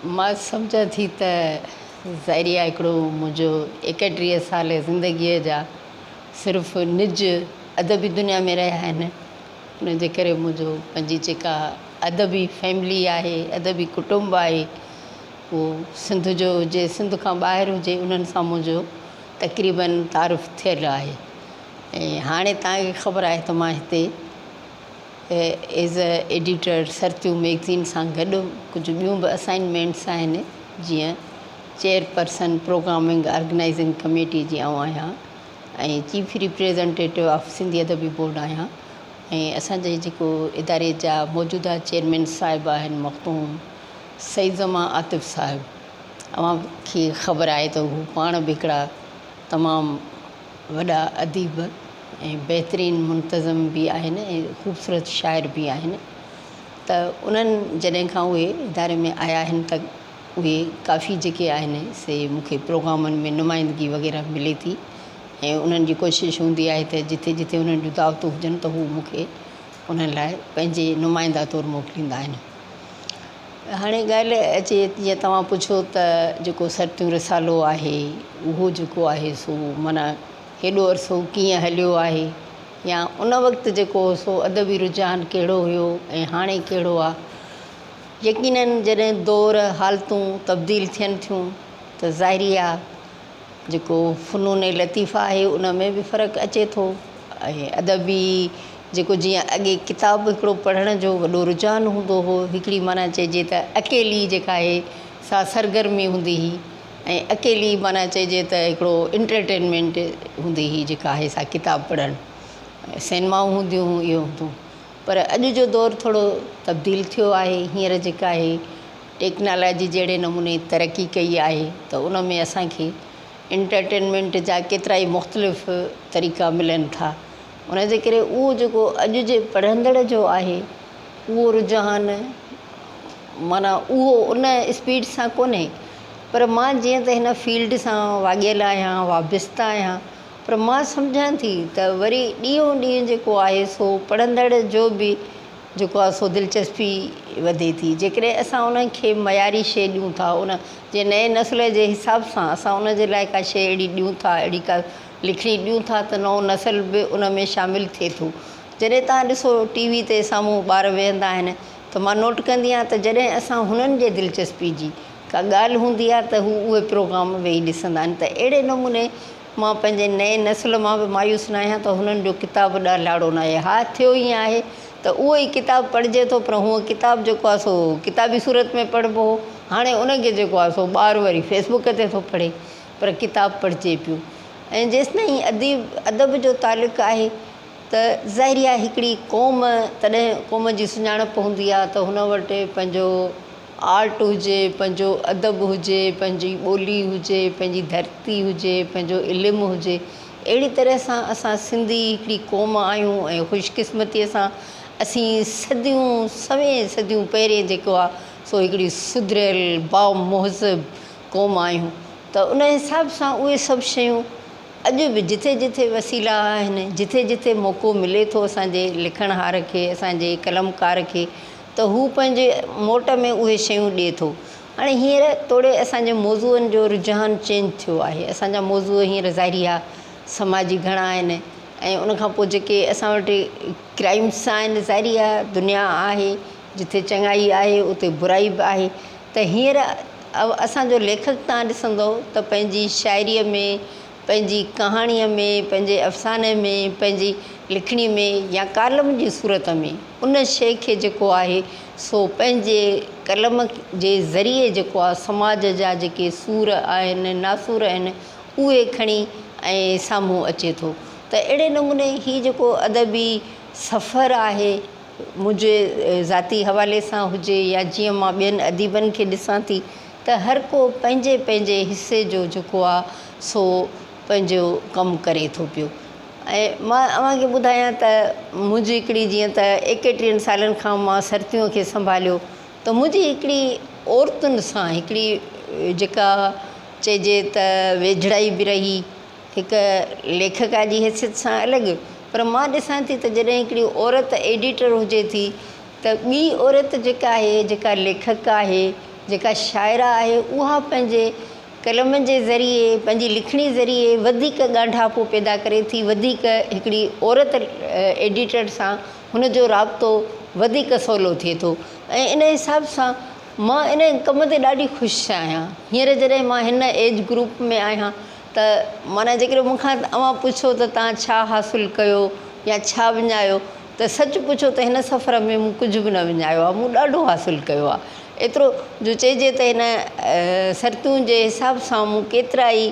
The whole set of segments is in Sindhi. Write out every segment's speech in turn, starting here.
مان سمجهان ٿي ته ظاهريا هڪڙو منهنجو ايڪٽيهه سالي زندگيء جا صرف نج ادبي دنيا ۾ رهيا آهن. ان جي ڪري منهنجو پنهنجي جيڪا ادبي فيملي آهي، ادبي ڪٽنب آهي، اهو سنڌ جو هجي، سنڌ کان ٻاهر هجي، انهن سان منهنجو تقريباً تعارف ٿيل آهي ۽ هاڻي توهان کي خبر آهي ته مان هتي as a editor Sartiyoon magazine سان گڏ ڪجهه ٻيون به اسائنمينٽس آهن جيئن چيئرپرسن پروگرامنگ آرگنائيزنگ ڪميٽي جي آئون آهيان ۽ چيف ريپريزنٽيٽو آف سنڌي ادبي بورڊ آهيان ۽ اسان جي جيڪو اداري جا موجوده چيئرمين صاحب آهن مخدوم سيد زمان عاطف صاحب اوهان کي خبر آهي ته هو پاڻ به هڪڙا تمام وڏا اديب ۽ بهترين منتظم به آهن ۽ خوبصورت شاعر به آهن ته انهن جڏهن کان اهي اداري ۾ آيا آهن ته اهي ڪافي جيڪي آهن سي مون کي پروگرامن ۾ نمائندگي وغيره ملي ٿي ۽ انهن جي ڪوشش هوندي آهي ته جٿي جٿي انهن جون دعوتون هجن ته هو مون کي انهن لاء پنهنجي نمائنده طور موڪليندا آهن هاڻي ڳالهه اچي جيئن توهان پڇيو ته جيڪو سرتيون رسالو آهي اهو جيڪو آهي سو معنيٰ هيڏو عرصو ڪيئن هليو آهي يا ان وقت جيڪو هو سو ادبي رجحان ڪهڙو هيو ۽ هاڻي ڪهڙو آ؟ يقينن جڏهن دور حالتون تبديل ٿين ٿيون ته ظاهري آ جيڪو فنون لطيفه آهي ان ۾ به فرق اچي ٿو ۽ ادبي جيڪو جيئن اڳي ڪتاب هڪڙو پڙهڻ جو وڏو رجحان هوندو هو هڪڙي معنيٰ چئجي ته اڪيلي جيڪا آهي سا سرگرمي هوندي هئي ۽ اڪيلي معنيٰ چئجي ته هڪڙو انٽرٽينمينٽ هوندي هئي جيڪا آهي سا ڪتاب پڙهڻ سينمائون هونديون هيون اهو هوندو هو پر اڄ جو دور ٿورو تبديل ٿيو آهي هينئر جيڪا هي ٽيڪنالاجي جهڙي نموني ترقي ڪئي آهي ته ان ۾ اسان کي انٽرٽينمينٽ جا ڪيترا ئي مختلف طريقا ملن ٿا ان جي ڪري اهو جيڪو اڄ جي پڙهندڙ جو آهي اهو رجحان معنيٰ اهو ان اسپيڊ سان ڪونهي پر مان جيئن ته هن فيلڊ سان واڳيل آهيان وابسته آهيان پر مان سمجهان ٿي ته وري ڏينهون ڏينهن جيڪو آهي سو پڙهندڙ جو به جيڪو آهي سو دلچسپي وڌي ٿي جيڪڏهن اسان انهن کي معياري شيء ڏيون ٿا ان جي نئين نسل جي حساب سان اسان ان جي لاء ڪا شيء اهڙي ڏيون ٿا اهڙي ڪا لکڻي ڏيون ٿا ته نئون نسل به ان ۾ شامل ٿئي ٿو جڏهن توهان ڏسو ٽي وي تي سامهون ٻار ويهندا آهن ته مان نوٽ ڪندي آهيان ته جڏهن اسان هنن جي دلچسپي جي ڪا ڳالهه هوندي آهي ته هو اهي پروگرام ويهي ڏسندا آهن ته اهڙي نموني مان پنهنجي نئين نسل مان به مايوس نه آهيان ته هنن جو ڪتاب ڏهلاڙو نه آهي ها ٿيو ائين آهي ته اهو ئي ڪتاب پڙهجي ٿو پر هونء ڪتاب جيڪو آهي سو ڪتابي صورت ۾ پڙهبو هو هاڻي ان کي جيڪو آهي سو ٻار وري فيس بوڪ تي ٿو پڙهي پر ڪتاب پڙهجي پيو ۽ جيستائين اديب ادب جو تعلق آهي ته ظاهري آهي هڪڙي قوم تڏهن قوم جي سڃاڻپ هوندي آهي ته هن وٽ پنهنجو آرٽ هجي، پنهنجو ادب هجي، پنهنجي ٻولي هجي، پنهنجي ڌرتي هجي، پنهنجو علم هجي، اهڙي طرح سان اسان سنڌي هڪڙي قوم آهيون ۽ خوش قسمتيء سان اسين صديون سوين صديون پهرين جيڪو آ سو هڪڙي سڌريل بامهذب قوم آهيون ته ان حساب سان اهي سڀ شيون اڄ به جٿي جٿي وسيلا آهن جٿي جٿي موقعو ملي ٿو اسان جي لکڻهار کي اسان جي قلمڪار کي ته هو پنهنجي موٽ ۾ اهي شيون ڏئي ٿو. هاڻي هينئر توڙي اسان جي موضوعن جو رجحان چينج ٿيو آهي. اسان جا موضوع هينئر ظاهري آ سماجي گهڻا آهن ۽ ان کان پوء جيڪي اسان وٽ ڪرائمس آهن ظاهري آ دنيا آهي جتي چڱائي آهي اتي برائي به آهي ته هينئر اسان جو ليکڪ تان ڏسندئو ته پنهنجي شاعريء ۾ پنهنجي ڪهاڻيء ۾، پنهنجي افساني ۾، پنهنجي لکڻي ۾ يا ڪالم جي صورت ۾ ان شيء کي جيڪو آهي سو پنهنجي قلم جي ذريعي جيڪو آهي سماج جا جيڪي سور آهن، ناسور آهن اهي کڻي ۽ سامهون اچي ٿو ته اهڙي نموني هي جيڪو ادبي سفر آهي منهنجي ذاتي حوالي سان هجي يا جيئن مان ٻين اديبن کي ڏسان ٿي ته هر ڪو پنهنجي پنهنجي حصي جو جيڪو آ سو پنهنجو ڪم ڪري ٿو پيو ۽ مان اوهان کي ٻڌايان ته منهنجي هڪڙي جيئن ته ايڪيٽيهن سالن کان مان سرتيون کي سنڀاليو ته منهنجي هڪڙي عورتن سان هڪڙي جيڪا چئجي ته ويجهڙائي به رهي هڪ ليکڪا جي حيثيت سان الڳ پر مان ڏسان ٿي ته جڏهن هڪڙي عورت ايڊيٽر هجي ٿي ته ٻي عورت جيڪا آهي، جيڪا ليکڪه آهي، جيڪا شاعره آهي، اها پنهنجي قلم جي ذريعي، پنهنجي لکڻي ذريعي وڌيڪ ڳانڍاپو پيدا ڪري ٿي، وڌيڪ هڪڙي عورت ايڊيٽر سان هن جو رابطو وڌيڪ سولو ٿئي ٿو ۽ ان حساب سان مان ان ڪم تي ڏاڍي خوش آهيان. هينئر جڏهن مان هن ايج گروپ ۾ آهيان ته معنيٰ جيڪڏهن مون کان اوهان پڇو ته توهان ڇا حاصل ڪيو يا ڇا وڃايو ته سچ پڇو ته هن سفر ۾ مون ڪجهه به نه وڃايو آهي، مون ڏاڍو حاصل ڪيو آهي. ايترو جو چئجي ته هن سرتيون جي حساب سان مون ڪيترا ئي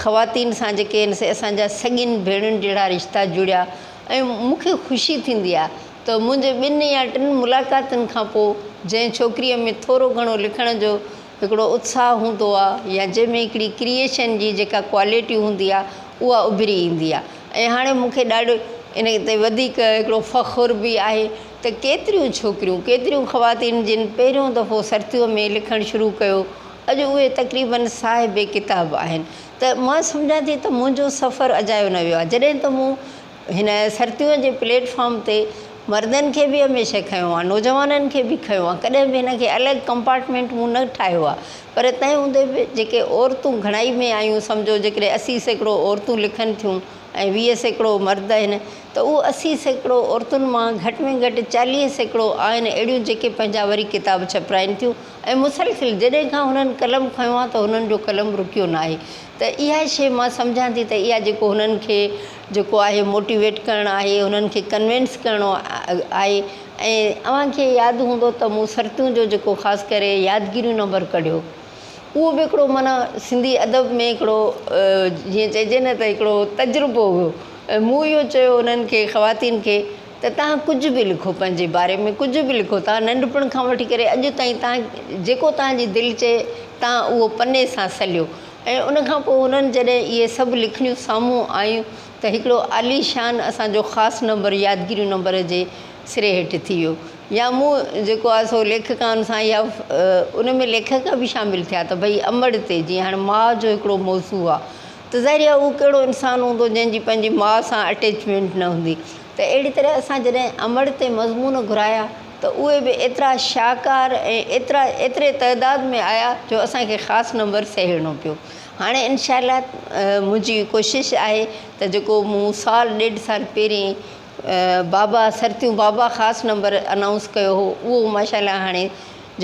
خواتين سان جيڪي هن سي اسان جا سڳين ڀيڻين جهڙا رشتا جڙيا ۽ مون کي خوشي ٿيندي آهي ته منهنجي ٻن يا ٽن ملاقاتن کان پوء جنهن ڇوڪريء ۾ ٿورو گهڻو لکڻ جو هڪڙو اتساهه هوندو آهي يا جنهن ۾ هڪڙي ڪريئيشن جي جيڪا ڪوالٽي هوندي آهي اها اڀري ايندي آهي ۽ هاڻي مون کي ڏاڍو ان تي وڌيڪ هڪڙو فخر به آهي ته ڪيتريون ڇوڪريون ڪيتريون خواتين جن پهريون دفعو سرتيون ۾ لکڻ شروع ڪيو اڄ اهي تقريبن صاحب ڪتاب آهن ته مان سمجهان ٿي ته منهنجو سفر اجايو نه ويو آهي جڏهن ته مون هن سرتيون جي پليٽ فارم تي مردن کي به هميشه کنيو آهي نوجوانن کي به کنيو آهي ڪڏهن به هن کي الڳ ڪمپارٽمينٽ مون نه ٺاهيو آهي پر تنهن هوندي به جيڪي عورتون گهڻائي ۾ آهيون سمجهو جيڪڏهن اسي سيڪڙو عورتون لکن ٿيون ۽ ويهه سيڪڙو مرد آهن ته اهو اسي سيڪڙو عورتن مان گهٽ ۾ گهٽ چاليهه سيڪڙو آهن اهڙيون جيڪي پنهنجا وري ڪتاب ڇپرائين ٿيون ۽ مسلسل جڏهن کان هنن قلم کنيو آهي ته هنن جو قلم رڪيو ناهي ته اها شيء مان سمجهان ٿي ته اها جيڪو هنن کي جيڪو آهي موٽيويٽ ڪرڻ آهي انهن کي ڪنوينس ڪرڻو آهي ۽ اوهان کي ياد هوندو ته مون سرتيون جو جيڪو خاص ڪري يادگيريون نمبر ڪڍيو اهو به هڪڙو معنيٰ سنڌي ادب ۾ هڪڙو جيئن چئجي نه ته هڪڙو تجربو هيو ۽ مون اهو چيو انهن کي خواتين کي ته توهان ڪجهه به لکو پنهنجي باري ۾ ڪجهه به لکو توهان ننڍپڻ کان وٺي ڪري اڄ تائين توهان جيڪو توهان جي دل چئي توهان اهو پني سان سليو ۽ ان کان پوء هنن جڏهن اهي سڀ لکڻيون سامهون آيون ته هڪڙو عاليشان اسان جو خاص نمبر يادگيريون نمبر جي سري هيٺ ٿي ويو يا مون جيڪو آهي سو ليکڪائن سان يا ان ۾ ليکڪ به شامل ٿيا ته ڀئي امڙ تي جيئن هاڻي ماء جو هڪڙو موضوع آهي ته ظاهري آهي اهو ڪهڙو انسان هوندو جنهن جي پنهنجي ماء سان اٽيچمينٽ نه هوندي ته اهڙي طرح اسان جڏهن امڙ تي مضمون گهرايا ته اهي به ايترا شاهڪار ۽ ايترا ايتري تعداد ۾ آيا جو اسان کي خاص نمبر سهيڙڻو پيو هاڻي انشاء الله منهنجي ڪوشش آهي ته جيڪو مون سال ڏيڍ سال پهرين بابا سرتيون بابا خاص نمبر انائونس ڪيو هو اهو ماشاء الله هاڻي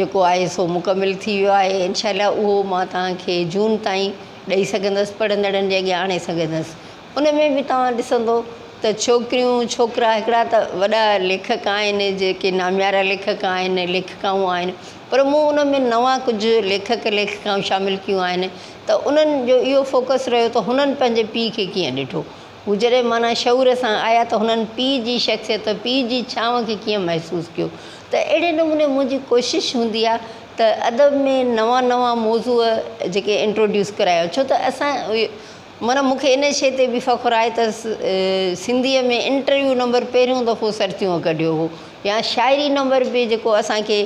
جيڪو آهي سو مڪمل ٿي ويو آهي انشاء الله اهو مان توهان کي جون تائين ڏئي سگهندس پڙهندڙن جي اڳيان آڻي سگهندس ان ۾ به توهان ڏسندو ته ڇوڪريون ڇوڪرا هڪڙا ته وڏا ليکڪ آهن جيڪي ناميارا ليکڪ آهن ليکڪائون آهن پر مون ان ۾ نوان ڪجهه ليکڪ ليکڪائون شامل ڪيون آهن ته انهن جو اهو فوڪس رهيو ته هنن پنهنجي پيء کي ڪيئن ڏٺو هو جڏهن معنيٰ شعور سان آيا ته هنن پيء جي شخصيت پيء جي ڇانو کي ڪيئن محسوس ڪيو ته اهڙي نموني منهنجي ڪوشش هوندي آهي ته ادب ۾ نوان نوان موضوع جيڪي انٽروڊيوس ڪرايا وڃن ڇو ته اسان معنيٰ مون کي ان شيء تي به فخر آهي ته سنڌيء ۾ انٽرويو نمبر پهريون دفعو سرتيون ڪڍيو هو يا شاعري نمبر به جيڪو اسان کي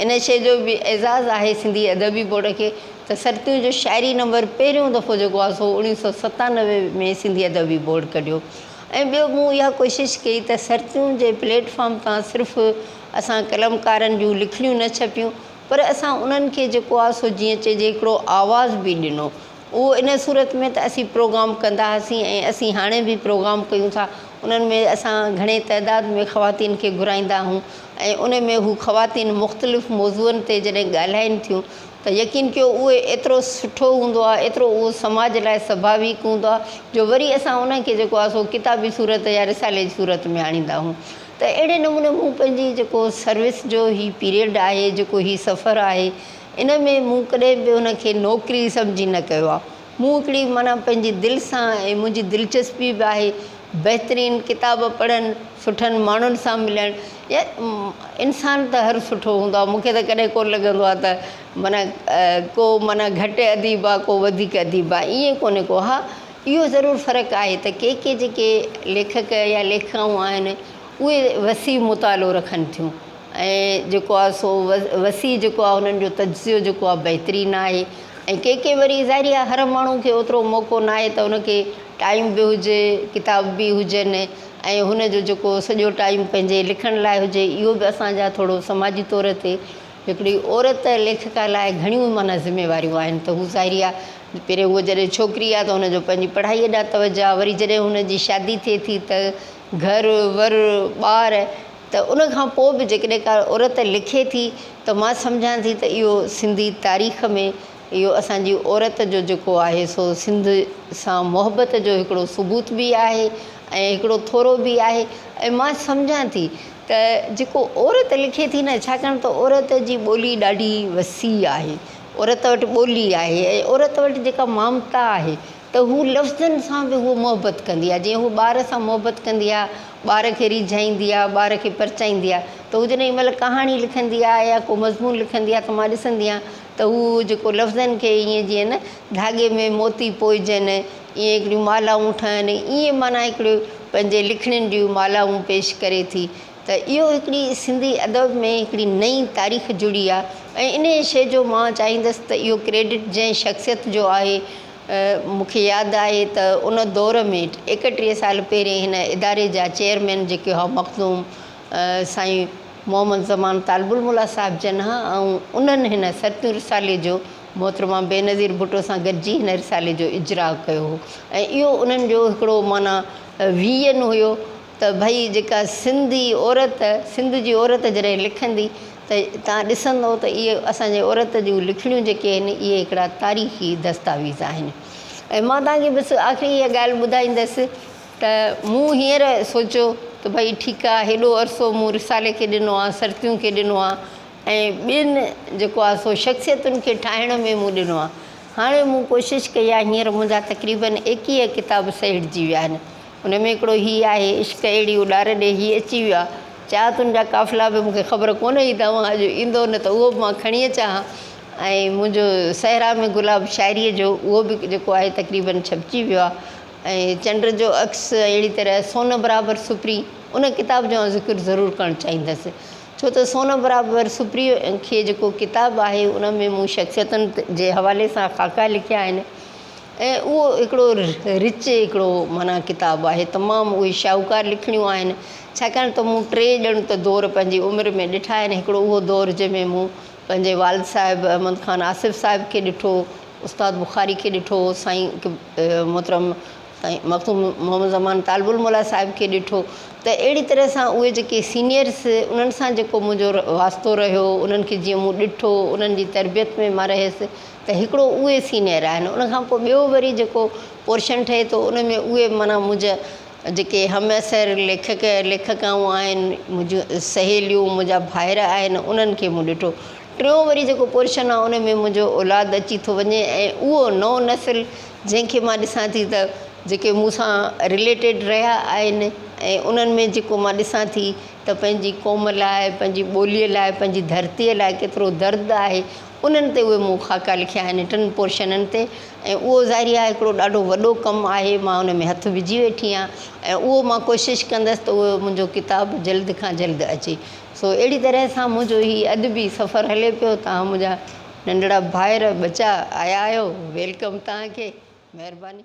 ان شيء جو به اعزاز آهي سنڌي ادبي بورڊ کي ته سرتيون جو شاعري نمبر پهريون دفعو جيڪو آهي سو اوڻيهه سؤ ستانوي ۾ سنڌي ادبي بورڊ ڪڍيو ۽ ٻيو مون اها ڪوشش ڪئي ته سرتيون جي پليٽ فارم تان صرف اسان قلمڪارن جون لکڻيون نه ڇپيون پر اسان انهن کي جيڪو آهي سو جيئن چئجي هڪڙو آواز به ڏنو اهو ان صورت ۾ ته اسين پروگرام ڪندا هئاسين ۽ اسين هاڻي به پروگرام ڪيون ٿا. انهن ۾ اسان گهڻي تعداد ۾ خواتين کي گهرائيندا آهيون ۽ ان ۾ هو خواتين مختلف موضوعن تي جڏهن ڳالهائين ٿيون ته يقين ڪيو اهو ايترو سٺو هوندو آهي ايترو اهو سماج لاء سڀاويڪ هوندو آهي جو وري اسان انهن کي جيڪو آهي سو ڪتابي صورت يا رسالي جي صورت ۾ آڻيندا آهيون ته اهڙي نموني مون پنهنجي جيڪو سروس جو هي پيريڊ آهي جيڪو هي سفر آهي ان ۾ مون ڪڏهن به ان کي نوڪري سمجهي نه ڪيو آهي. مون هڪڙي معنيٰ پنهنجي دل سان ۽ منهنجي دلچسپي به آهي بهترين ڪتاب پڙهڻ، سٺن ماڻهن سان ملڻ يا انسان ته هر سٺو هوندو آهي، مون کي ته ڪڏهن ڪونه لڳندو آهي ته معنيٰ ڪو معنيٰ گهٽ اديب آهي ڪو وڌيڪ اديب آهي ائين ڪونه ڪو ها اهو ضرور فرق آهي ته ڪي ڪي جيڪي ليکڪ يا ليکڪائون آهن اهي وسيع مطالعو رکن ٿيون ۽ جيڪو آهي سو وسيع جيڪو آهي انهن جو تجزيو جيڪو آهي بهترين آهي ۽ ڪي ڪي وري ظاهري آهي هر ماڻهو کي اوترو موقعو ناهي ته ان کي ٽائيم به هجي ڪتاب به هجن ۽ هن جو جيڪو سڄو ٽائيم پنهنجي لکڻ لاء هجي اهو به اسان جا ٿورو سماجي طور تي هڪڙي عورت ليکڪا لاء گهڻيون معنيٰ ذميواريون آهن ته هو ظاهري آهي پهرين هو جڏهن ڇوڪري آهي ته هن جو پنهنجي پڙهائي ڏانهن توجه آهي وري جڏهن هن جي شادي ٿئي ٿي ته گهر ور ٻار ته ان کان پوء به جيڪڏهن ڪا عورت لکي ٿي ته مان سمجهان ٿي ته اهو سنڌي تاريخ ۾ اهو اسان جي عورت جو جيڪو آهي سو سنڌ سان محبت جو هڪڙو ثبوت به آهي ۽ هڪڙو ٿورو به آهي ۽ مان سمجهان ٿي ته جيڪو عورت لکي ٿي نه ڇاڪاڻ ته عورت جي ٻولي ڏاڍي وسيع آهي عورت وٽ ٻولي آهي ۽ عورت وٽ جيڪا مامتا آهي ته هو لفظن سان به هوء محبت ڪندي آهي جيئن هوء ٻار سان محبت ڪندي آهي ٻار کي ريجهائيندي آهي ٻار کي پرچائيندي آهي ته هو جڏهن مطلب ڪهاڻي لکندي آهي يا ڪو مضمون لکندي آهي ته مان ڏسندي آهيان ته هو جيڪو لفظن کي ائين جيئن نه ڌاڳي ۾ موتي پوئجن ائين هڪڙيون مالائون ٺهن ائين معنيٰ هڪڙي پنهنجي لکڻين جون مالائون پيش ڪري ٿي ته اهو هڪڙي سنڌي ادب ۾ هڪڙي نئين تاريخ جڙي آهي ۽ انهيء شيء جو مان چاهيندس ته اهو ڪريڊٽ جنهن شخصيت جو آهي مون کي ياد آهي ته ان دور ۾ ايڪٽيهه سال پهرين هن اداري جا چيئرمين جيڪي هئا مخدوم سائين محمد زمان طالب الموليٰ صاحب جن ها ۽ انهن هن سرتيون رسالي جو محترمه بينظير ڀٽو سان گڏجي هن رسالي جو اجراء ڪيو هو ۽ اهو انهن جو هڪڙو معنيٰ ويزن هيو ته ڀئي جيڪا سنڌي عورت سنڌ جي عورت جڏهن لکندي ته تان ڏسندو ته اهي اسان جي عورت جون لکڻيون جيڪي آهن اهي هڪڙا تاريخي دستاويز آهن ۽ مان توهان کي بس آخري اها ڳالهه ٻڌائيندس ته مون هينئر سوچيو ته ڀئي ٺيڪ آهي هيڏو عرصو مون رسالي کي ڏنو آهي سرتيون کي ڏنو آهي ۽ ٻين جيڪو آهي سو شخصيتن کي ٺاهڻ ۾ مون ڏنو آهي هاڻي مون ڪوشش ڪئي آهي هينئر منهنجا تقريبن ايڪيهه ڪتاب سهيڙجي ويا آهن انهن ۾ هڪڙو هي آهي، عشق اهڙي اڏار ڏي هي اچي ويو آ، چاهه تون جا قافلا به مون کي خبر ڪونه هئي ته اوهان اڄ ايندؤ نه ته اهو به مان کڻي اچان ها ۽ منهنجو صحرا ۾ گلاب شاعريء جو اهو به جيڪو آهي تقريبن ڇپجي ويو آ ۽ چنڊ جو عڪس اهڙي طرح سون برابر سپري ان ڪتاب جو آئون ذڪر ضرور ڪرڻ چاهيندس ڇو ته سون برابر سپري کي جيڪو ڪتاب آهي ان ۾ مون شخصيتن جي حوالي سان خاڪا لکيا آهن. ۽ اهو هڪڙو رچ هڪڙو معنيٰ ڪتاب آهي. تمام اهي شاهوڪار لکڻيون آهن، ڇاڪاڻ ته مون ٽي ڄڻ ته دور پنهنجي عمر ۾ ڏٺا آهن، هڪڙو اهو دور جنهن ۾ مون پنهنجي والد صاحب احمد خان آصف صاحب کي ڏٺو، استاد بخاري کي ڏٺو، سائين محترم سائين مخدوم محمد زمان طالب الموليٰ صاحب کي ڏٺو ته اهڙي طرح سان اهي جيڪي سينئرس انهن سان جيڪو منهنجو واسطو رهيو، انهن کي جيئن مون ڏٺو، انهن جي تربيت ۾ مان رهيس، ته هڪڙو اهي سينئر آهن ان کان پوء ٻيو وري جيڪو پورشن ٺهي ٿو ان ۾ اهي معنيٰ منهنجا جيڪي همعصر ليکڪ ليکڪائون آهن منهنجون سهيليون منهنجا ڀائر آهن انهن کي مون ڏٺو ٽيون وري جيڪو پورشن آهي ان ۾ منهنجو اولاد اچي ٿو وڃي ۽ اهو نئون نسل جنهن کي مان ڏسان ٿي ته جيڪي مون سان رليٽيڊ رهيا آهن ۽ انهن ۾ جيڪو مان ڏسان ٿي ته پنهنجي قوم لاء پنهنجي ٻوليء لاء پنهنجي ڌرتيء لاء ڪيترو درد آهي انهن تي اهي مون خاڪا لکيا آهن ٽن پورشنن تي ۽ اهو ظاهري آهي هڪڙو ڏاڍو وڏو ڪم آهي مان ان ۾ هٿ وجهي ويٺي آهيان ۽ اهو مان ڪوشش ڪندس ته اهو منهنجو ڪتاب جلد کان جلد اچي سو اهڙي طرح سان منهنجو هي ادبي سفر هلي پيو توهان منهنجا ننڍڙا ڀائر ٻچا آيا آهيو ويلڪم توهان کي مهرباني.